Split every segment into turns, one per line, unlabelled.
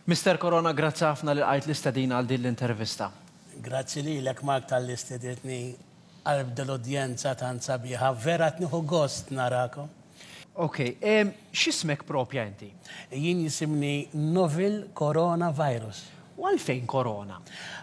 Mister Corona grazzi ħafna li lqajt l-istedina għal din l-intervista. Grazzi lilek Mark talli stedintni qalb dil-udjenza tant sabiħa, vera qed nieħu gost narakom. Ok, x'ismek propja inti? Jien jisimni Novel Corona Virus. U għalfejn Corona?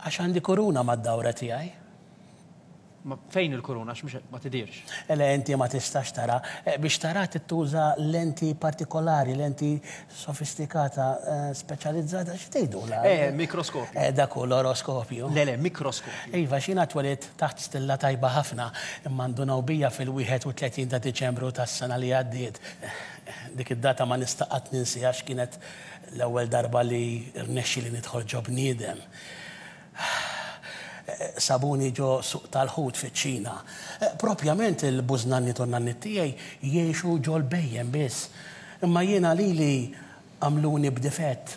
Għax għandi kuruna mad-dawra tiegħi. Fejn il-kuruna għax mhux ma tidhirx. Le inti ma tistax tara. Biex taraha trid tuża lenti partikolari, lenti sofistikata speċjalizzata xi tgħidulha? Eh, mikroskopju. Eh, dak hu l-oroskopju. Le, le, mikroskopju. Iva, x'jiena twelidt taħt stilla tajba ħafna, imma ndunaw bija fil-31 ta' Diċembru tas-sena li għaddiet. Dik id-data ma nista' qatt ninsiha għax kienet l-ewwel darba li rnexxieli nidħol ġo bniedem. Sabuni ġo suq tal-ħut fiċ-Ċina. Propjament il-bużnanniet u n-nanniet tiegħi jgħixu ġol-bhejjem biss. Imma jiena lili għamluni b'difett.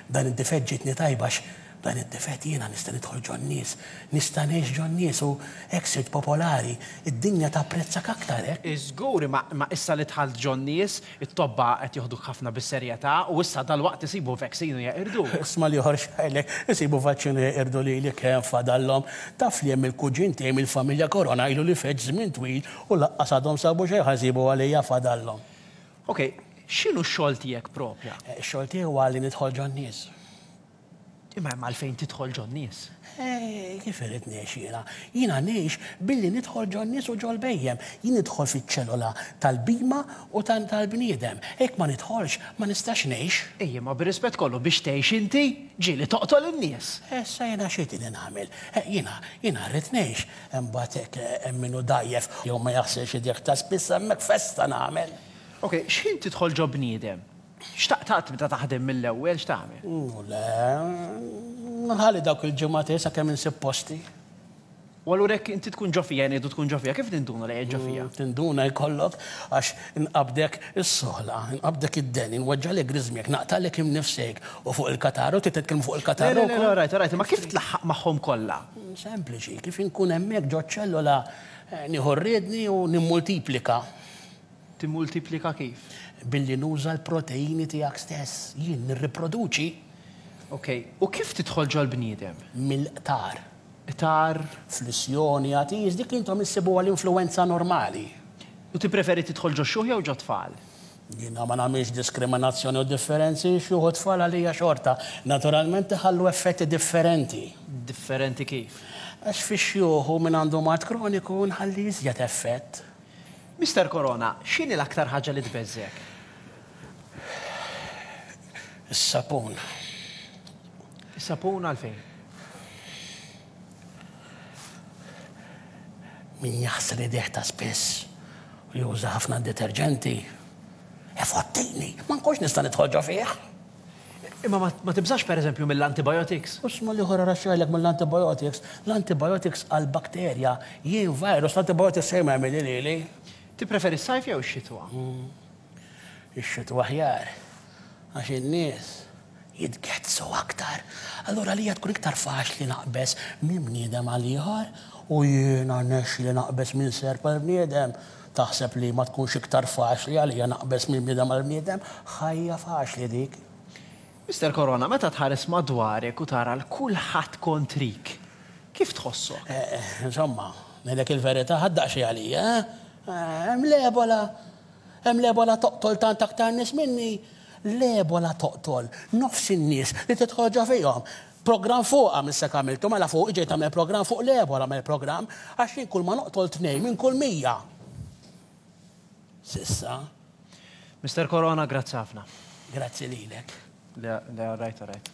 B'dan id-difett ġietni tajba għax b'dan id-difett jiena nista' nidħol ġon-nies. Nista' ngħix ġon-nies u hekk sirt popolari. Id-dinja tapprezzak aktar hekk. Żgur, imma issa li dħalt ġon-nies, It-tobba qed joħduk ħafna bis-serjetà u issa dalwaqt isibu vaccine u jeqirduk. Isma' l-ieħor x'qailek, Isibu vaccine u jeqirdu lili kemm fadallhom. Taf li hemm il-kuġin tiegħi mill-familja Corona ilu li feġġ żmien twil u laqqas għadhom sabu xejn ħa jsibu għalija fadallhom. Ok, x'inhu x-xogħol tiegħek propja? Ix-xogħol tiegħi huwa li nidħol ġon-nies. Imma hemm għalfejn tidħol ġon-nies. Ej, kif irrid ngħix jiena? Jiena ngħix billi nidħol ġon-nies u ġol-bhejjem. Jien nidħol fiċ-ċellola tal-bhima u tal-bniedem. Jekk ma nidħolx, ma nistax ngħix. Ej, imma bir-rispett kollu, biex tgħix inti, ġieli toqtol in-nies! Issa jiena x'għidili nagħmel? Jiena, jiena rrid ngħix. Imbagħad jekk hemm min hu dgħajjef jew ma jaħsilx idejh ta' spiss, hemmhekk festa nagħmel! Ok, x'ħin tidħol ġo bniedem? X'taqt qatt tibda taħdem mill-ewwel? X'tagħmel? Hu le. Nħalli dawk il-ġimgħat hi sakemm insib posti. U allura jekk inti tkun ġo fija, ngħidu tkun ġo fija, kif ninduna li qiegħed ġo fija? Tinduna jkollok għax inqabdek is-soħla, inqabdek id-deni, nweġġagħlek griżmjek, naqtagħlek imnifsejk u fuq il-kataru, trid titkellem fuq il-kataru. Le, le, all right, all right, imma kif tlaħħaq magħhom kollha? Sempliċi, kif inkun hemmhekk ġoċ-ċellola nieħu r-riedni u nimmultiplika. Timmultiplika kif? Billi nuża l-proteini tiegħek stess. Jien nirriproduċi. Ok. U kif tidħol ġol-bniedem? Mill-qtar. Qtar? Flissjoni, għatis, dik li intom issibuha l-influwenza normali. U tippreferi tidħol ġox-xjuħ jew ġot-tfal? Jiena ma nagħmilx diskriminazzjoni u differenzi, xjuħ u tfal għalija xorta. Naturalment iħallu effetti differenti. Differenti kif? Għax fix-xjuħ u min għandu mard kroniku nħalli iżjed effett. Mister Corona, x'inhi l-aktar ħaġa li tbeżżgħek? Is-sapun. Is-sapun għalfejn? Min jaħsel idejh ta' spiss u juża ħafna deterġenti, ifottini, ma nkunx nista' nidħol ġo fih. Imma ma tibżax pereżempju mill-antibiotics? U sma l-ieħor ara x'għidlek mill-antibiotics, l-antibiotics għall-bakterja, jien virus, l-antibiotics xejn ma jagħmilli lili. Tippreferi s-sajf jew ix-xitwa? Ix-xitwa aħjar, għax in-nies jitgezzgħu aktar. Allura għalija tkun iktar faċli naqbeż minn bniedem għal ieħor u jiena rnexxieli naqbeż minn serp għal bniedem. Taħseb li ma tkunx iktar faċli għalija naqbeż minn bniedem għal bniedem? Ħajja faċli dik! Mister Corona, meta tħares madwarek u tara 'l kulħadd kontrik, kif tħossok? Insomma, ngħidlek il-verità, ħadt daqsxejn għalija, eh? Hemm l-Ebola! Hemm l-Ebola toqtol tant aktar nies minni! L-Ebola toqtol nofs in-nies li tidħol ġo fihom! Programm fuqha minn s'hekk għamiltu mela fuq ġejt tagħmel programm fuq l-Ebola għamel programm għax jien kulma noqtol tnejn minn kull mija. S'issa. Mister Corona grazzi ħafna. Grazzi lilek. Le le alright alright.